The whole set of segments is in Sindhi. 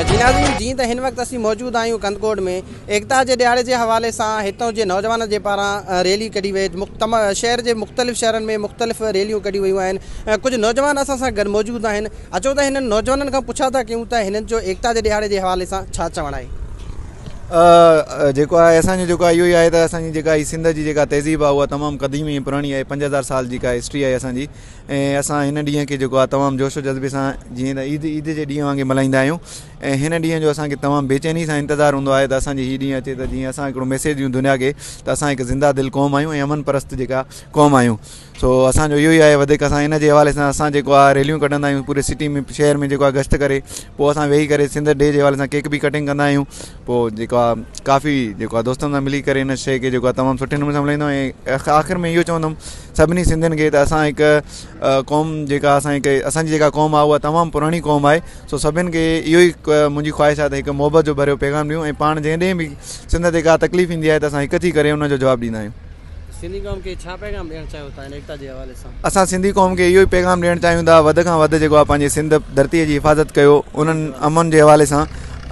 جي ناظرين جيئن ته هن وقت اسين موجود آهيون ڪنڌڪوٽ ۾ ايڪتا جي ڏهاڙي جي حوالي سان هتان جي نوجوانن جي پاران ريلي ڪڍي وئي شهر جي مختلف شهرن ۾ مختلف ريليون ڪڍيون ويون آهن ڪجهه نوجوان اسان سان گڏ موجود آهن اچو ته هنن نوجوانن کان پڇا ٿا ڪيون ته هنن جو ايڪتا جي ڏهاڙي جي حوالي سان ڇا چوڻ آهي. جيڪو آهي اسان جو جيڪو آهي اهو ئي آهي ته اسان جي جيڪا هي سنڌ جي جيڪا تهذيب آهي اها تمام قديم ۽ پراڻي آهي پنج هزار سال جيڪا هسٽري آهي اسان جي ۽ اسان هن ڏينهن کي جيڪو آهي تمام جوش و جذبي سان جيئن عيد عيد جي ڏينهن وانگي ملهائيندا آهيون ۽ هن ڏينهن جو اسان کي تمام بيچيني سان انتظار هوندو آهي ته اسان جي هي ڏينهن اچي ته جيئن اسان هڪڙو ميسيج ڏيون دنيا کي ته اسان هڪ زنده دل قوم آهيون ۽ امن پرست جيڪا قوم آهيون سو اسان جو اهو ئي آهي وڌيڪ اسان ان جي حوالي سان اسان جيڪو آهي ريليون ڪڍندا آهيون پوري سٽي ۾ شهر ۾ جيڪو آهي گشت ڪري پوء اسان ويهي ڪري سنڌ ڊي جي حوالي سان ڪيڪ به ڪٽنگ ڪندا آهيون پوء جيڪو آهي ڪافي جيڪو آهي دوستن سان ملي ڪري ان شي کي جيڪو آهي تمام سٺي نموني سان ملهائيندو آهيان ۽ آخر ۾ اهو چوندم سڀني سنڌين کي ته اسان هڪ قوم جيڪا اسان هڪ اسان جي جيڪا قوم آهي اها تمام پراڻي قوم آهي سو سڀن کي اهو ئي منهنجي خواهش آهي ته هڪ محبت جو ڀريو پيغام ڏيون ۽ پاڻ جنهن ڏينهن به سنڌ تي ڪا تڪليف ايندي آهي ته اسان هڪ ٿي ڪري ان جو جواب ڏيندا آهيون. سنڌي قوم کي ڇا پيغام ڏيڻ چاهيو ٿا هن ايڪتا جي حوالي سان؟ اسان سنڌي قوم کي اهو ئي پيغام ڏيڻ چاهيون ٿا وڌ کان وڌ جيڪو آهي پنهنجي سنڌ ڌرتي جي حفاظت ڪيو انهن امن جي حوالي سان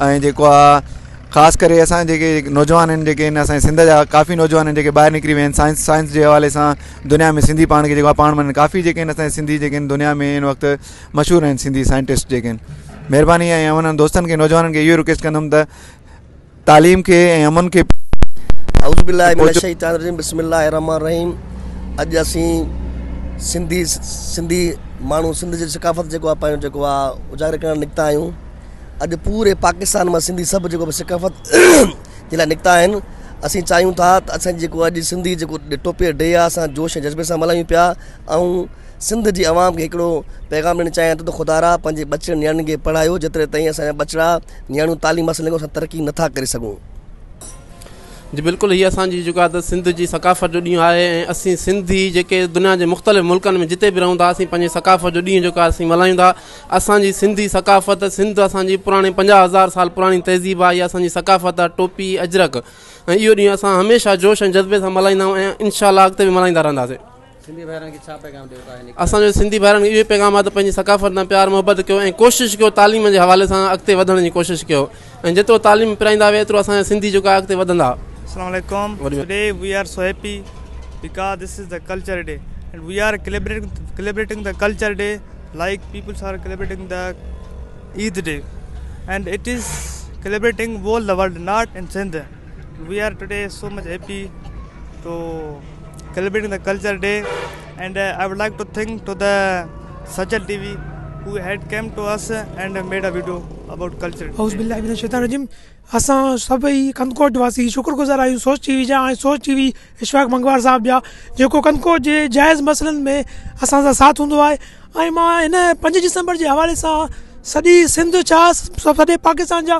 ۽ جيڪو آهي خاص ڪري اسان جيڪي نوجوان آهن جيڪي هن اسان جي سنڌ جا ڪافي نوجوان آهن جيڪي ٻاهر نڪري ويا آهن سائنس سائنس جي حوالي سان دنيا ۾ سنڌي پاڻ کي جيڪو آهي پاڻ ۾ ڪافي جيڪي آهن اسان جي سنڌي جيڪي آهن دنيا ۾ هن وقت مشھور آھن سنڌي سائنٽسٽ جيڪي آھن مھرباني ۽ آئون انھن دوستن کي نوجوانن کي اھو رڪويسٽ ڪندم ته تعليم کي ۽ امن کي اعوذ بالله من الشيطان الرجيم بسم الله الرحمن الرحيم اڄ اسين سنڌي سنڌي ماڻھو سنڌ جي ثقافت جيڪو آھي پنھنجو جيڪو آھي اجاگر ڪرڻ نڪتا آھيون اڄ پوري پاڪستان مان سنڌي سڀ جيڪو بھ ثقافت جي لاء نڪتا آھن اسين چاھيون ٿا ته اسان جيڪو اڄ سنڌي جيڪو ٽوپي ڊي آھي اسان جوش ۽ جذبي سان ملھايون پيا ۽ سنڌ جي عوام کي هڪڙو پيغام ڏيڻ چاهيان ٿو ته خدا را پنهنجي ٻچڙن نياڻين کي پڙهايو جيتري تائين اسان جا ٻچڙا نياڻيون تعليم حاصل نه ڪن اسان ترقي نه ٿا ڪري سگهون. جي بلڪل هي اسان جي جيڪا ته سنڌ جي ثقافت جو ڏينهن آهي ۽ اسين سنڌي جيڪي دنيا جي مختلف ملڪن ۾ جتي به رهون ٿا اسين پنهنجي ثقافت جو ڏينهن جيڪو آهي اسين ملهايون ٿا اسان جي سنڌي ثقافت سنڌ اسان جي پراڻي پنجاهه هزار سال پراڻي تهذيب آهي اها اسان جي ثقافت آهي ٽوپي اجرڪ ۽ اهو ڏينهن اسان هميشه جوش ۽ جذبي سان ملهائيندا آهيون ۽ انشاء الله اڳتي به ملهائيندا رهنداسين سنڌي ڀائرن کي ڇا پيغام ڏيو ٿا اسان جو سنڌي ڀائرن کي اهو پيغام آهي ته پنهنجي ثقافت سان پيار محبت ڪيو ۽ ڪوشش ڪيو تعليم جي حوالي سان اڳتي وڌڻ جي ڪوشش ڪيو ۽ جيترو تعليم پرائيندا وي ايترو اسان جا سنڌي جيڪو آهي اڳتي وڌندا اسلام عليڪم today we are so happy because this is the culture day and we are celebrating the culture day like peoples are celebrating the Eid day and it is celebrating world world not in Sindh we are today so much happy to celebrating the culture day and I would like to thank to the Sachal T V who had came to us and made a video about culture اعوذ بالله من الشيطان الرجيم اسان سڀئي ڪنڌڪوٽ واسي شڪر گذار آهيون سوچ ٽي وي جا ۽ سوچ ٽي وي اشفاق منگوار صاحب جا جيڪو ڪنڌڪوٽ جي جائز مسئلن ۾ اسان سان ساٿ هوندو آهي ۽ مان هن پنج ڊسمبر جي حوالي سان سڄي سنڌ ڇا سڄي پاڪستان جا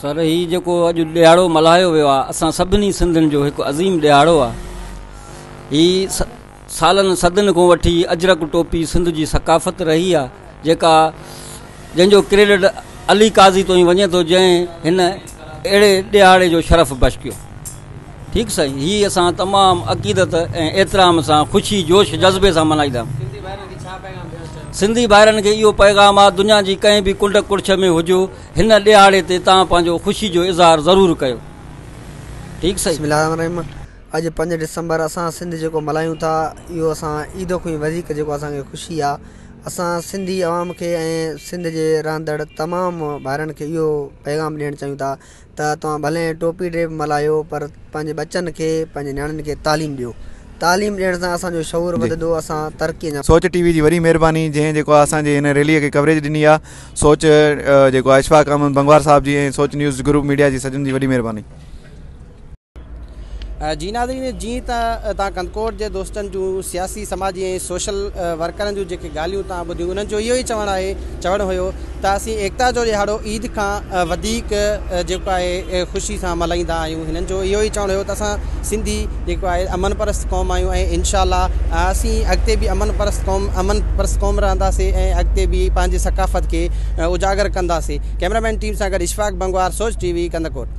سر هي جيڪو اڄ ڏيهاڙو ملهايو ويو آ اسان سڀني سنڌن جو هڪ عظيم ڏيهاڙو آ هي سالن صدن کان وٺي اجرڪ ٽوپي سنڌ جي ثقافت رهي آ جيڪا جنهن جو ڪريڊٽ علي قاضي تو هي وڃي تو جنهن هن اهڙي ڏيهاڙي جو شرف بخش ڪيو ٺيڪ سائين هي اسان تمام عقيدت ۽ احترام سان خوشي جوش جذبي سان ملهائيندا. سنڌي ڀائرن کي اهو پيغام آ دنيا جي ڪنهن به ڪنڊ ڪڙڇ ۾ هجو هن ڏهاڙي تي توهان پنهنجو خوشي جو اظهار ضرور ڪيو ٺيڪ سائين. بسم الله الرحمن الرحيم اڄ پنج ڊسمبر اسان سنڌ جيڪو ملهايون ٿا اهو اسان عيد کون وڌيڪ جيڪو اسان کي خوشي آ اسان سنڌي عوام کي ۽ سنڌ جي رهندڙ تمام ڀائرن کي اهو پيغام ڏيڻ چاهيون ٿا ته توهان ڀلي ٽوپي ڊي ملهايو پر پنهنجي ٻچن کي پنهنجي نياڻين کي تعليم ڏيو تعليم ڏيڻ سان اسان جو شعور وڌندو اسان ترقي اڃا سوچ ٽي وي جي وڏي مهرباني جنهن جيڪو آ اسان جي هن ريلي کي ڪوريج ڏني آ سوچ جيڪو آ اشفاق احمد بنگوار صاحب جي ۽ سوچ نيوز گروپ ميڊيا جي سجن جي وڏي مهرباني. جي ناظرين جيئن ته تان ڪنڌڪوٽ جي دوستن جون سياسي سماجي ۽ سوشل ورڪرن جون جيڪي ڳالهيون تان ٻڌيون انهن جو اهو ئي چوڻ آهي چوڻ هيو ته اسين ايڪتا جو ڏهاڙو عيد کان وڌيڪ جيڪو آهي خوشي سان ملهائيندا آهيون هنن جو اهو ئي چوڻ هيو ته اسان سنڌي جيڪو آهي امن پرست قوم آهيون ۽ انشاء الله اسين اڳتي به امن پرست قوم امن پرست قوم رهنداسي ۽ اڳتي به پنهنجي ثقافت کي اجاگر ڪنداسي ڪيمرا مين ٽيم سان گڏ اشفاق بنگوار سوچ ٽي وي ڪنڌڪوٽ